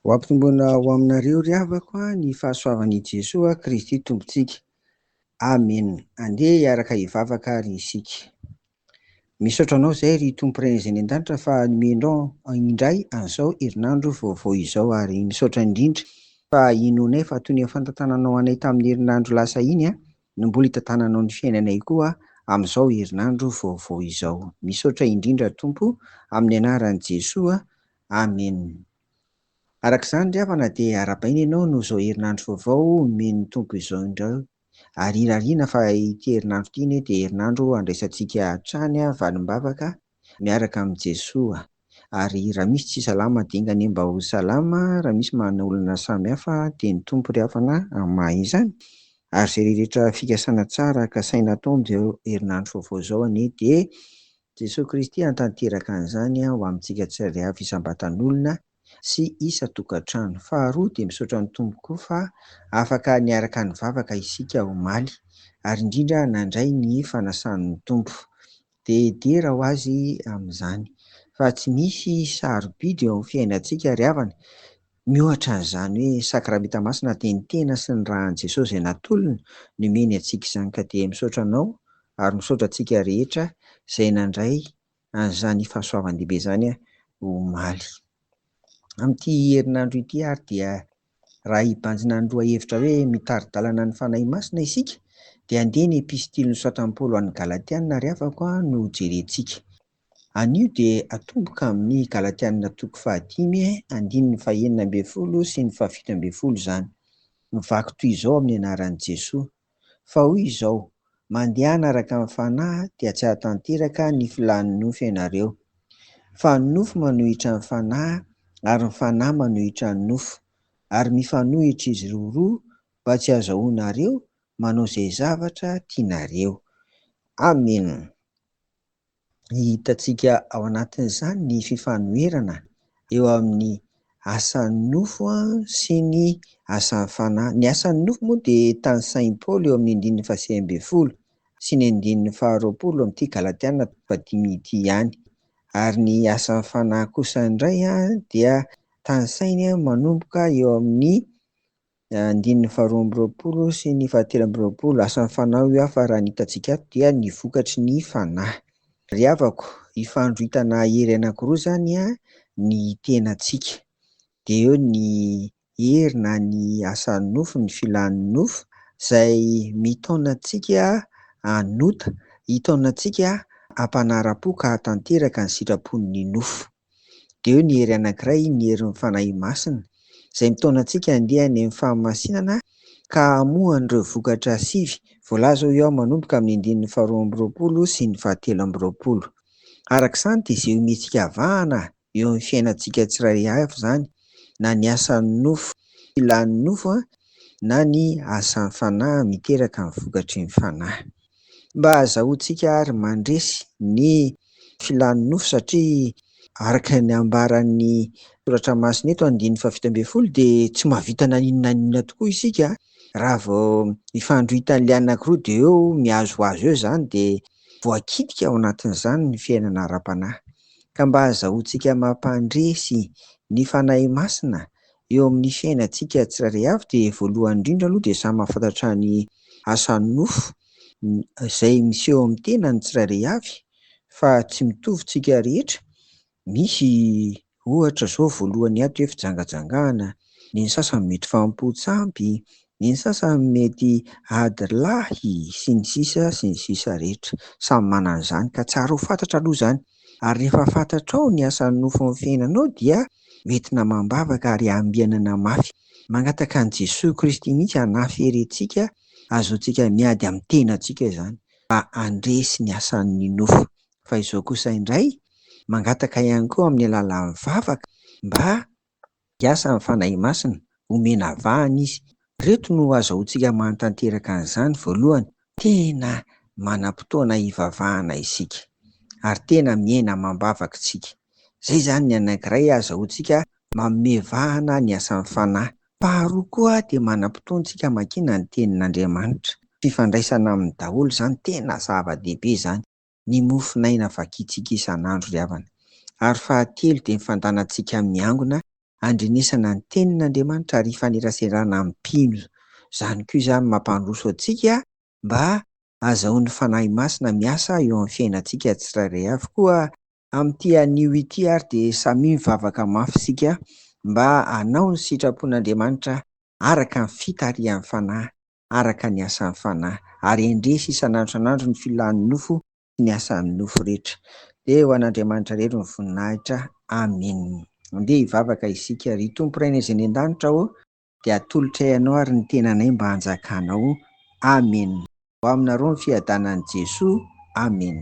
Ho ampitombona ho aminareo ry havako ny fahasoavan'i Jesoa Kristy Tompontsika. Amen. Andeha hiaraka hivavaka ary isika. Misaotra anao izay ry Tompo Ray izay any an-danitra fa nomenao indray an'izao herinandro vaovao izao ary misaotra indrindra fa inoanay fa toy ny fantantananao anay tamin'ny herinandro lasa iny an. no mbola itantananao ny fiainanay koa amin'izao herinandro vaovao izao. Misaotra indrindra Tompo amin'ny anaran'i Jesoa. Amen. Araka izany ry havana dia arabaina ianao noho izao herinandro vaovao omen'ny Tompo izao indray. Ary irariana fa ity herinandro ity anie dia herinandro handraisantsika hatrany valim-bavaka miaraka amin'i Jesoa ary raha misy tsy salama dingane mba ho salama raha misy manana olana samy hafa dia ny Tompo ry havana amin'ny maha izany ary izay rehetra fikasana tsara kasaina atao amin'izao herinandro vaovao izao anie dia Jesoa Kristy hantanteraka an'izany ho amintsika tsirairay avy isam-batan'olona sy isan-tokantrano. Faharoa dia misaotra ny Tompo koa fa afaka niaraka nivavaka isika omaly ary indrindra nandray ny fanasan'ny Tompo. Dia dera ho azy amin'izany fa tsy misy sarobidy eo amin'ny fiainantsika ry havana miohatra an'izany hoe Sakramenta Masina dia ny tena sy ny ran'i Jesosy izay natolony no omeny antsika izany ka dia misaotra anao ary misaotra antsika rehetra izay nandray an'izany fahasoavan-dehibe izany omaly. Amin'ity herinandro ity ary dia raha hibanjina ny lohahevitra hoe mitari-dalana ny Fanahy Masina isika dia andeha ny epistily nosoratran'i Paoly ho an'ny Galatiana ry havako no hojerentsika. Anio dia atomboka amin'ny Galatiana toko fahadimy andininy fahenina ambin'ny folo sy ny fahafito ambin'ny folo izany. Mivaky toy izao amin'ny anaran'i Jesoa. Fa hoy izao, Mandehana araka ny Fanahy dia tsy hahatanteraka ny filàn'ny nofo ianareo. Fa ny nofo manohitra ny Fanahy, ary ny Fanahy manohitra ny nofo. Ary mifanohitra izy ireo roa, mba tsy hahazahoanareo manao izay zavatra tianareo. Amena. hitantsika ao anatin'izany ny fifanoherana eo amin'ny asan'ny nofo sy ny asan'ny fanahy. Ny asan'ny nofo moa dia tanisain'i Paoly eo amin'ny andininy fahasivy ambin'ny folo sy ny andininy faharoapolo amin'ity Galatiana faha-dimy ity ihany. Ary ny asan'ny fanahy kosa indray dia tanisainy manomboka eo amin'ny Ny andininy faharoa amby roapolo sy ny fahatelo amby roapolo, asan'ny Fanahy ho hafa raha ny hitantsika ato dia ny vokatry ny Fanahy. Ry havako, ifandroitana hery anankiroa izany ny tenantsika. Dia eo ny hery na ny asan'ny nofo, ny filàn'ny nofo, izay mitaona antsika hanota, hitaona antsika hampanara-po ka hahatanteraka ny sitrapon'ny nofo. Dia eo ny hery anankiray, ny herin'ny Fanahy Masina, izay mitaona antsika handeha any amin'ny fahamasinana ka hamoha an'ireo vokatra sivy voalaza hoy aho manomboka amin'ny andininy faharoa amby roapolo sy ny fahatelo amby roapolo. Araka izany dia izay omentsika avahana eo amin'ny fiainantsika tsirairay avy izany, na ny asan'ny nofo, filan'ny nofo, na ny asan'ny Fanahy miteraka ny vokatry ny Fanahy. Mba hazahoantsika ary mandresy ny filan'ny nofo satria araka ny ambaran'ny soratra masina eto andininy fahafito ambin'ny folo dia tsy mahavita na inona na inona tokoa isika raha vao mifandro hita an'ilay anankiroa dia eo mihazohazo eo izany dia voakitika ao anatin'izany ny fiainana ara-panahy. Ka mba hazahoantsika mampandresy ny Fanahy Masina Eo amin'ny fiainantsika tsirairay avy dia voalohany indrindra aloha dia samy mahafantatra ny asan'ny nofo izay miseho eo amin'ny tenan'ny tsirairay avy fa tsy mitovy tsika rehetra, misy ohatra izao voalohany ato hoe fijangajangana, ny sasany mety fahampoan-tsampy, Ny sasany mety ady lahy sy ny sisa sy ny sisa rehetra. Samy manana ny zany ka tsara ho fantatra aloha zany. Ary rehefa fantatrao ny asan'ny nofo amin'ny fiainanao dia hoentina amam-bavaka ary ambianana mafy. Mangataka an'i Jesoa Kristy mihitsy hanafere antsika ahazoantsika miady amin'ny tenantsika izany mba handresy ny asan'ny nofo. Fa izao kosa indray mangataka ihany koa amin'ny alalan'ny vavaka mba Miasa ny Fanahy Masina, omena vahana Izy. Ireto no azahoantsika mahatanteraka an'izany, voalohany, tena manam-potoana hivavahana isika, ary tena miaina amam-bavaka isika. Izay izany ny anankiray azahoantsika manome vahana ny asan'ny Fanahy. Faharoa koa dia manam-potoana isika hamakiana ny Tenin'Andriamanitra. Fifandraisana aminy daholo izany, tena zava-dehibe izany. ny mofonaina vakintsika isan'andro ry havana, ary fahatelo dia ny fandanantsika miangona handrenesana ny tenin'Andriamanitra ary hifaneraserana amin'ny mpino, izany koa izany mampandroso antsika mba hazahoan'ny Fanahy Masina miasa eo amin'ny fiainantsika tsirairay avy, koa amin'ity anio ity ary dia samia mivavaka mafy isika mba hanao ny sitrapon'Andriamanitra araka ny fitarihan'ny Fanahy araka ny asan'ny Fanahy, ary hendresy isan'andro isan'andro ny filan'ny nofo sy ny asan'ny nofo rehetra. Dia ho an'Andriamanitra irery ny voninahitra. Amena. Andeha hivavaka isika. Ry Tompo Rainay izay any an-danitra ô, dia atolotray Anao ary ny tenanay mba hanjakanao. Amena. Ho aminareo ny fiadanan'i Jesoa. Amena.